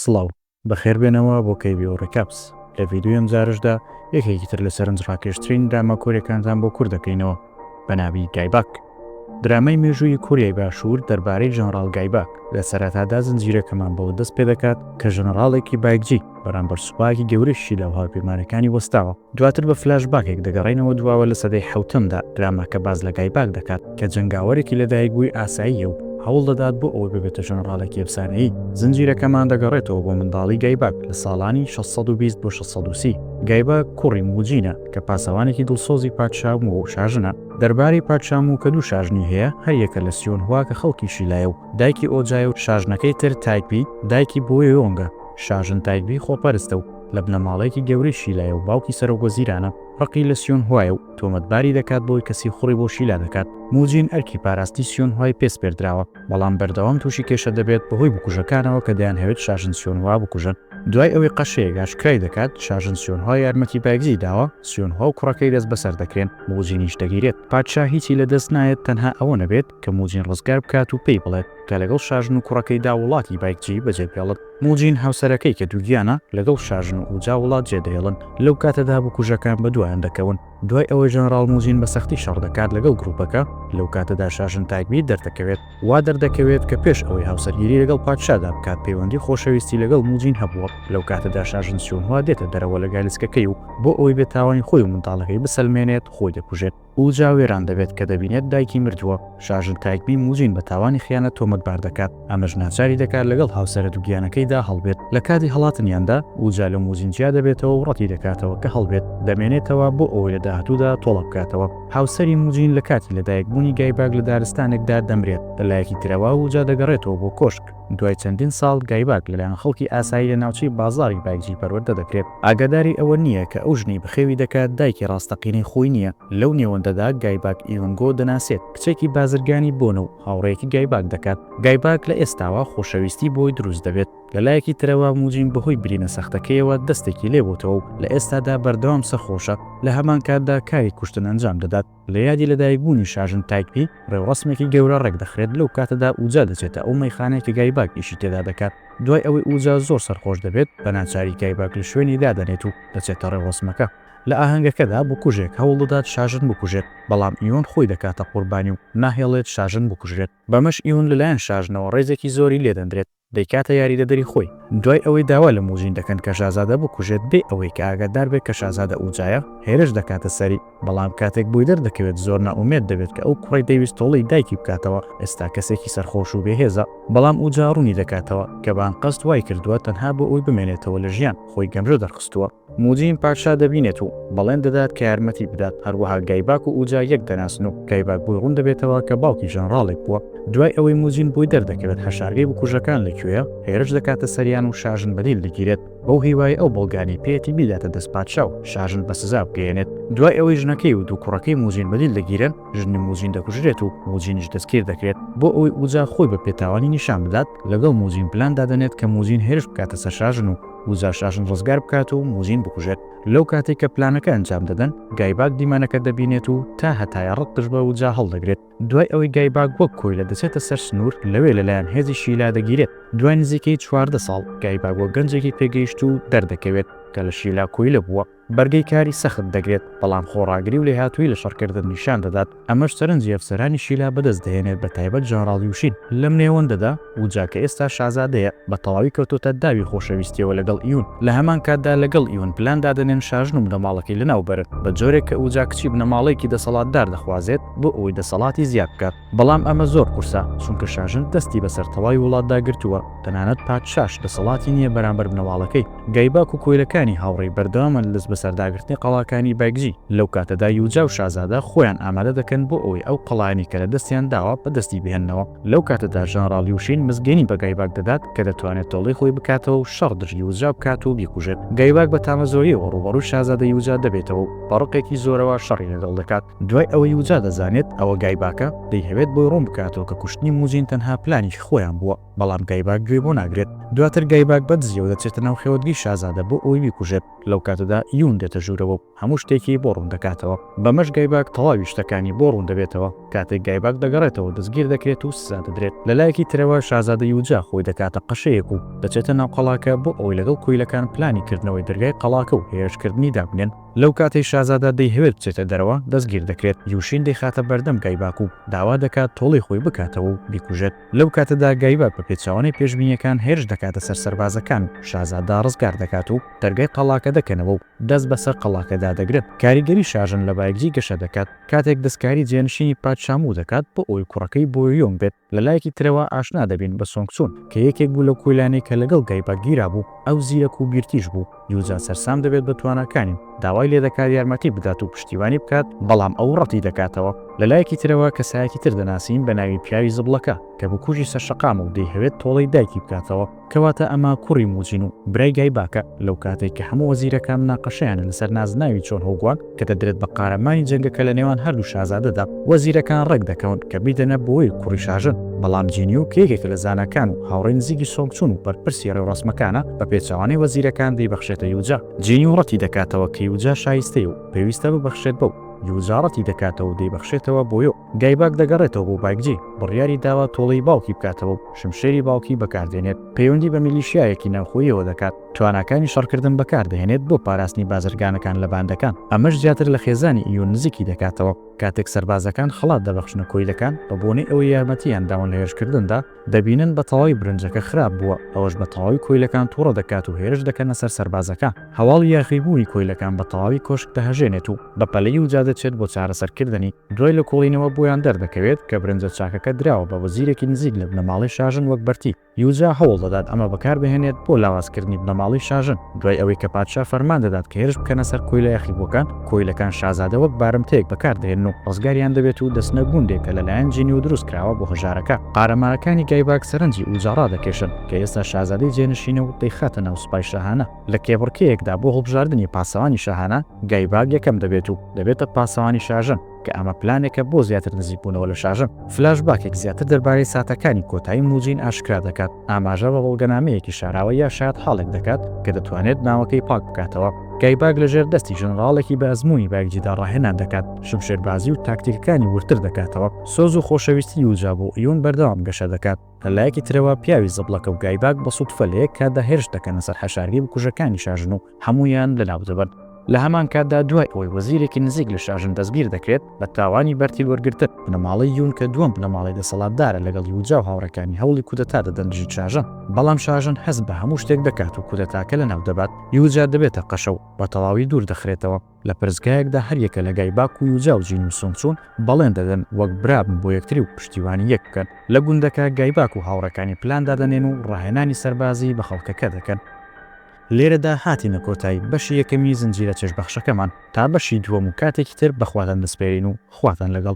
سڵاو، بەخێربێنەوە بۆ KBO Recaps. لە ڤیدیۆی ئەمجارەشدا یەکێکی تر لە سەرنجڕاکێشترین دراما کۆرییەکانتان بۆ کورت دەکەینەوە بە ناوی گایباک. درامای مێژوویی کۆریای باشوور دەربارەی ژەنڕاڵ گایباک، لە سەرەتادا زنجیرەکەمان بەوە دەست پێدەکات کە ژەنڕاڵێکی بایکجی بەرامبەر سوپایەکی گەورەی شیلا و هاوپەیمانەکانی وەستاوە. دواتر بە فلاش باکێک دەگەڕێینەوە دواوە لە سەدەی حەوتەمدا، دراماکە باس لە گای باک دەکات کە جەنگاوەرێکی لەدایکبووی ئاساییە و هەوڵ دەدات بۆ ئەوەی ببێتە ژەنەڕاڵێکی ئەفسانەیی، زنجیرەکەمان دەگەڕێتەوە بۆ منداڵی گای باک لە ساڵانی شەش سەد و بیست بۆ شەش سەد و سی، گای باک کوڕی مووجینە کە پاسەوانێکی دڵسۆزی پادشا موو و شاژنە دەربارەی پادشا موو کە دوو شاژنی هەیە هەر یەکە لە سیۆنهوا کە خەڵکی شیلایە و دایکی ئۆجایە و شاژنەکەی تر تایگبی دایکی بۆیۆنگە شاژن تایگبی خۆپەرستە و لە بنەماڵەیەکی گەورەی شیلایە و باوکی سەرۆک وەزیرانە، ڕقی لە سیۆنهوایە و تۆمەتباری دەکات بەوەی کە سیخوڕی بۆ شیلا دەکات. موجین ئەرکی پاراستی سیۆنهوای پێ سپێردراوە، بەڵام بەردەوام تووشی کێشە دەبێت بەهۆی بکوژەکانەوە کە دەیانهەوێت شاژن سیۆنهوا بکوژن. دوای ئەوەی قەشەیەک ئاشکرای دەکات شاژن سیۆنهوا یارمەتی بایگزی داوە، سیۆنهوا و کوڕەکەی دەستبەسەر دەکرێن، موجینیش دەگیرێت. پادشا هیچی لەدەست نایەت تەنها ئەوە نەبێت کە موجین ڕزگار بکات و پێی بڵێت کە لەگەڵ شاژن و کوڕەکەیدا وڵاتی بایگجی بەجێبهێڵن. موجین هاوسەرەکەی کە دووگیانە لەگەڵ شاژن و ئوجا وڵات جێدەهێڵن، لەو کاتەدا بکوژەکان بەدوایان دەکەون، دوای ئەوەی ژەنراڵ موجین بە سەختی شەڕ دەکات لەگەڵ گروپەکە، لەو کاتەدا شاژن تاکبیر دەردەکەوێت، وا دەردەکەوێت کە پێش ئەوەی هاوسەرگیری لەگەڵ پادشادا بکات پەیوەندی خۆشەویستی لەگەڵ موجین هەبووە، لەو کاتەدا شاژن سیونهوا دێتە دەرەوە لە گالیسکەکەی و بۆ ئەوەی بێتاوانی خۆی و منداڵەکەی بسەلمێنێت خۆی دەکوژێت. ئوجا وێران دەبێت کە دەبینێت دایکی مردووە، شاژن تایکبی موجین بە تاوانی خیانەت تۆمەتبار دەکات، ئەمەش ناچاری دەکات لەگەڵ هاوسەرە دووگیانەکەیدا هەڵبێت، لە کاتی هەڵاتنیاندا، ئوجا لە موجین جیا دەبێتەوە و ڕەتی دەکاتەوە کە هەڵبێت، دەمێنێتەوە بۆ ئەوەی لە داهاتوودا تۆڵە بکاتەوە. هاوسەری موجین لە کاتی لەدایکبوونی گایباگ لە دارستانێکدا دەمرێت، لەلایەکی ترەوە ئوجا دەگەڕێتەوە بۆ کۆشک، دوای چەندین ساڵ گایباک لەلایەن خەڵکی ئاسایی لە ناوچەی بازاڕی بایجی پەروەردە دەکرێت. ئاگاداری ئەوە نییە کە ئەو ژنەی بەخێوی دەکات دایکی ڕاستەقینەی خۆی نییە، لەو نێوەندەدا گایباک ئیونگۆ دەناسێت، کچێکی بازرگانی بۆنە و هاوڕێیەکی گایباک دەکات، گایباک لە ئێستاوە خۆشەویستی بۆی دروست دەبێت، لە لایەکی ترەوە موجین بەهۆی برینە سەختەکەیەوە دەستێکی لێبۆتەوە و لە ئێستادا بەردەوام سەرخۆشە، لە هەمانکاتدا کاری کوشتن ئەنجام دەدات. لە یادی لەدایکبوونی شاژن تایکپی، ڕێوڕەسمێکی گەورە ڕێکدەخرێت، لەو کاتەدا ئوجا دەچێتە ئەو مەیخانەی کە گایباک ئیشی تێدا دەکات، دوای ئەوەی ئوجا زۆر سەرخۆش دەبێت، بەناچاری گایباک لە شوێنی دادەنێت و دەچێتە ڕێوڕەسمەکە. لە ئاهەنگەکەدا بکوژێک هەوڵدەدات شاژن بکوژێت، بەڵام ئیون خۆی دەکاتە قوربانی و ناهێڵێت شاژن بکوژرێت، بەمەش ئیون لەلایەن شاژنەوە ڕێزێکی زۆری لێدەندرێت. دەیکاتە یاریدەدەری خۆی، دوای ئەوەی داوا لە موژین دەکەن کە شازادە بکوژێت بێ ئەوەی کە ئاگادار بێت کە شازادە ئوجایە، هێرش دەکاتە سەری، بەڵام کاتێک بۆی دەردەکەوێت زۆر نائومێد دەبێت کە ئەو کوڕەی دەیویست تۆڵەی دایکی بکاتەوە ئێستا کەسێکی سەرخۆش و بێهێزە، بەڵام ئوجا ڕوونی دەکاتەوە کە بە ئەنقەست وایکردووە تەنها بۆ ئەوەی بمێنێتەوە لە ژیان، خۆی گەمژە دەرخستووە. موجین پادشا دەبینێت و بەڵێن دەدات کە یارمەتی بدات، هەروەها گایباک و ئوجا یەک دەناسن و گایباک بۆی ڕوون دەبێتەوە کە باوکی ژەنڕاڵێک بووە، دوای ئەوەی موجین بۆی دەردەکەوێت حەشارگەی بکوژەکان لە کوێیە، هێرش دەکاتە سەریان و شاژن بە دیل دەگیرێت، بەو هیوایەی ئەو بەڵگانەی پێیەتی بیداتە دەست پادشا و شاژن بە سزا بگەیەنێت، دوای ئەوەی ژنەکەی و دوو کوڕەکەی موجین بە دیل دەگیرێن، ژنی موجین دەکوژرێت و موجینیش دەستگیر دەکرێت، بۆ ئەوەی ئوجا خۆی بە پێتاوانی نیشان بدات، لەگەڵ موجین پلان دادەنێت کە موجین هێرش بکاتە سەر شاژن و. موزا شاژن ڕزگار بکات و موزین بکوژێت. لەو کاتەی کە پلانەکە ئەنجام دەدەن، گایباک دیمەنەکە دەبینێت و تا هەتایە ڕق دژ بە ووجا هەڵدەگرێت. دوای ئەوەی گایباک وەک کۆیلە دەچێتە سەر سنوور، لەوێ لەلایەن هێزی شیلا دەگیرێت. دوای نزیکەی چواردە ساڵ، گایباک وەک گەنجێکی پێگەیشتوو دەردەکەوێت، کە لە شیلا کۆیلە بووە. بەرگەی کاری سەخت دەگرێت، بەڵام خۆڕاگری و لێهاتوویی لە شەڕکردن نیشان دەدات، ئەمەش سەرنجی ئەفسەرانی شیلا بەدەست دەهێنێت بە تایبەت ژەنڕاڵ یوشین. لەم نێوەندەدا، ووجا کە ئێستا شازادەیە، بە تەواوی کەوتۆتە داوی خۆشەویستییەوە لەگەڵ ئیون، لە هەمان کاتدا لەگەڵ ئیون پلان دادەنێن شاژن و بنەماڵەکەی لەناو بەرن، بە جۆرێک کە ووجا کچی بنەماڵەیەکی دەسەڵاتدار دەخوازێت بۆ ئەوەی دەسەڵاتی زیاد بکات. بەڵام ئەمە زۆر قورسە، چونکە شاژن دەستی بەسەر تەواوی وڵاتدا گرتووە، تەنانەت پادشاش دەسەڵاتی نییە بەرامبەر بنەواڵەکەی. گایباک و کۆیلەکانی هاوڕێی بەردەوامن لە بەسەرداگرتنی قەڵاکانی بایکجی، لەو کاتەدا یوجا و شازادە خۆیان ئامادە دەکەن بۆ ئەوەی ئەو قەڵایانەی کە لە دەستیان داوە بەدەستی بهێننەوە. لەو کاتەدا ژەنەراڵ یوشین مزگێنی بە گایباک دەدات کە دەتوانێت تۆڵەی خۆی بکاتەوە و شەڕ دژی یوجا بکات و بیکوژێت. گایباک بە تامەزرۆییەوە ڕووبەڕووی شازادە یوجا دەبێتەوە و بە ڕقێکی زۆرەوە شەڕی لەگەڵ دەکات. دوای ئەوەی وجا دەزانێت ئەوە گایباکە، دەیهەوێت بۆی ڕوون بکاتەوە کە کوشتنی موجین تەنها پلانێکی خۆیان بووە، بەڵام گایباک گوێی بۆ ناگرێت. دواتر گایباک بە دزییەوە دەچێتە ناو خێوەتگەی شازادە بۆ ئەوەی بیکوژێت، لەو کاتەدا یوون دێتە ژوورەوە و هەموو شتێکی بۆ ڕوون دەکاتەوە. بەمەش گایباک تەواوی شتەکانی بۆ ڕوون دەبێتەوە. کاتێک گایباک دەگەڕێتەوە دەستگیر دەکرێت و سزا دەدرێت. لە لایەکی ترەوە شازادە یوجا خۆی دەکاتە قەشەیەک و دەچێتە ناو قەڵاکە بۆ ئەوەی لەگەڵ کۆیلەکان پلانی کردنەوەی دەرگای قەڵاکە و هێرشکردنی دابنێن. لەو کاتەی شازادە دەیهەوێت بچێتە دەرەوە، دەستگیر دەکرێت، یوشین دەیخاتە بەردەم گایباک و داوا دەکات تۆڵەی خۆی بکاتەوە و بیکوژێت. لەو کاتەدا گایباک بە پێچەوانەی پێشبینییەکان هێرش دەکاتە سەر سەربازەکان و شازادە ڕزگار دەکات و دەرگای قەڵاکە دەکەنەوە و دەست بەسەر قەڵاکەدا دەگرن. کاریگەری شاژن لە بایگجی گەشە دەکات کاتێک دەستکاری جێنشینی پادشا موو دەکات بۆ ئەوەی کوڕەکەی بۆیۆیۆنگ بێت. لە لایەکی ترەوە ئاشنا دەبین بە سۆنگ چون کە یەکێک بوو لەو کۆیلانەی کە لەگەڵ گەیبا گیرابوو، ئەو زیرەک و بیرتیژ بوو، یوجا سەرسام دەبێت بە تواناکانی و داوای لێ دەکات یارمەتی بدات و پشتیوانی بکات، بەڵام ئەو ڕەتی دەکاتەوە، لە لایەکی ترەوە کەسایەکی تر دەناسین بە ناوی پیاوی زبڵەکە کە بکوژی سەرشەقامە و دەیهەوێت تۆڵەی دایکی بکاتەوە، کەواتە ئەمە کوڕی موجین و برای گایباکە، لەوکاتەی کە هەموو وەزیرەکان مناقەشەیانە لەسەر نازناوی چۆن هۆگوان کە دەدرێت بە قارەمانی جەنگەکە لە نێوان هەردوو شازادەدا، وەزیرەکان ڕێک دەکەون کە بیدەنە بۆی کوڕی شاژن، بەڵام جینیو کە یەکێکە لە زاناکان و هاوڕێی نزیکی سۆنگ چون و بەرپرسی ڕێوڕەسمەکانە، بە پێچەوانەی وەزیرەکان دەیبەخشێتە یوجا. جینیو ڕەتی دەکاتەوە کە یوجا شایستەیە و پێویستە ببەخشرێت بەو، یوجا ڕەتی دەکاتەوە و دەیبەخشێتەوە بۆ یۆ. گایباک دەگەڕێتەوە بۆ بایکجی، بڕیاری داوە تۆڵەی باوکی بکاتەوە و شمشێری باوکی بەکاردێنێت، پەیوەندی بە میلیشیایەکی ناوخۆییەوە دەکات، تواناکانی شەڕکردن بەکاردەهێنێت بۆ پاراستنی بازرگانەکان لە باندەکان، ئەمەش زیاتر لە خێزانی ئیون نزیکی دەکاتەوە، کاتێک سەربازەکان خەڵات دەبەخشنە کۆیلەکان بەبۆنەی ئەوەی یارمەتییان داون لە هێرشکردندا، دەبینن بە تەواوی برنجەکە خراپ بووە، ئەوەش بە تەواوی کۆیلەکان توڕە دەکات و هێرش دەکەنە سەر سەربازەکە، هەواڵی یاخیبوونی کۆیلەکان بە تەواوی کۆشک دەهەژێنێت و بە پەلەی وجا دەچێت بۆ چارەسەرکردنی، دوای لێکۆڵینەوە بۆیان دەردەکەوێت کە برنجە چاکەکە دراوە بە وەزیرێکی نزیک لە بنەماڵەی شاژن وەک بەرتی، یوجا هەوڵ دەدات ئەمە بەکار بهێنێت بۆ لاوازکردنی بنەماڵەی شاژن، دوای ئەوەی کە پادشا فەرمان دەدات کە هێرش بکەنە سەر کۆیلە یاخیبووەکان، کۆیلەکان شازادە وەک بارمتەیەک بەکار دەهێنن و ڕزگاریان دەبێت و دەچنە گوندێک کە لەلایەن جینیۆ دروست کراوە بۆ هەژارەکە. قارەمانەکانی گایباک سەرنجی ئوجا ڕادەکێشن کە ئێستا شازادەی جێنشینە و دەیخاتە ناو سوپای شاهانە. لە کێبڕکێیەکدا بۆ هەڵبژاردنی پاسەوانی شاهانە، گایباک یەکەم دەبێت و دەبێتە پاسەوانی شاژن. کە ئەمە پلانێکە بۆ زیاتر نزیکبوونەوە لە شاژن. فلاشباکێک زیاتر دەربارەی ساتەکانی کۆتایی موجین ئاشکرا دەکات، ئاماژە بە بەڵگەنامەیەکی شاراوە یا شایەتحاڵێک دەکات کە دەتوانێت ناوەکەی پاک بکاتەوە. گایباگ لەژێر دەستی ژەنەراڵێکی بە ئەزموونی بایگجیدا ڕاهێنان دەکات، شمشێربازی و تاکتیکەکانی وردتر دەکاتەوە. سۆز و خۆشەویستی یوجا بۆ ئیون بەردەوام گەشە دەکات. لە لایەکی ترەوە، پیاوی زەبڵەکە و گایباگ بە سوتفە لە یەک کاتدا هێرش دەکەنە سەر حەشارگەی بکوژەکانی شاژن و هەموویان لەناودەبەن. لە هەمان کاتدا دوای ئەوەی وەزیرێکی نزیک لە شاژن دەستگیر دەکرێت بە تاوانی بەرتیل وەرگرتن، بنەماڵەی یون کە دووەم بنەماڵەی دەسەڵاتدارە لەگەڵ یوجا و هاوڕێکانی هەوڵی کودەتا دەدەن دژی شاژن، بەڵام شاژن هەست بە هەموو شتێک دەکات و کودەتاکە لەناو دەبات، یوجا دەبێتە قەشە و بە تەواوی دوور دەخرێتەوە. لە پەرستگایەکدا هەریەکە لە گای باکو یوجا و جین و سونگ چون بەڵێن دەدەن وەک برا بن بۆ یەکتری و پشتیوانی یەک بکەن. لە گوندەکە گای باک و هاوڕێکانی پلان دادەنێن و ڕاهێنانی سەربازی بە خەڵکەکە دەکەن. لێرەدا هاتینە کۆتایی بەشی یەکەمی زنجیرە چێژ بەخشەکەمان تا بەشی دووەم و کاتێکی تر بەخواتان دەسپێرین و خواتان لەگەڵ.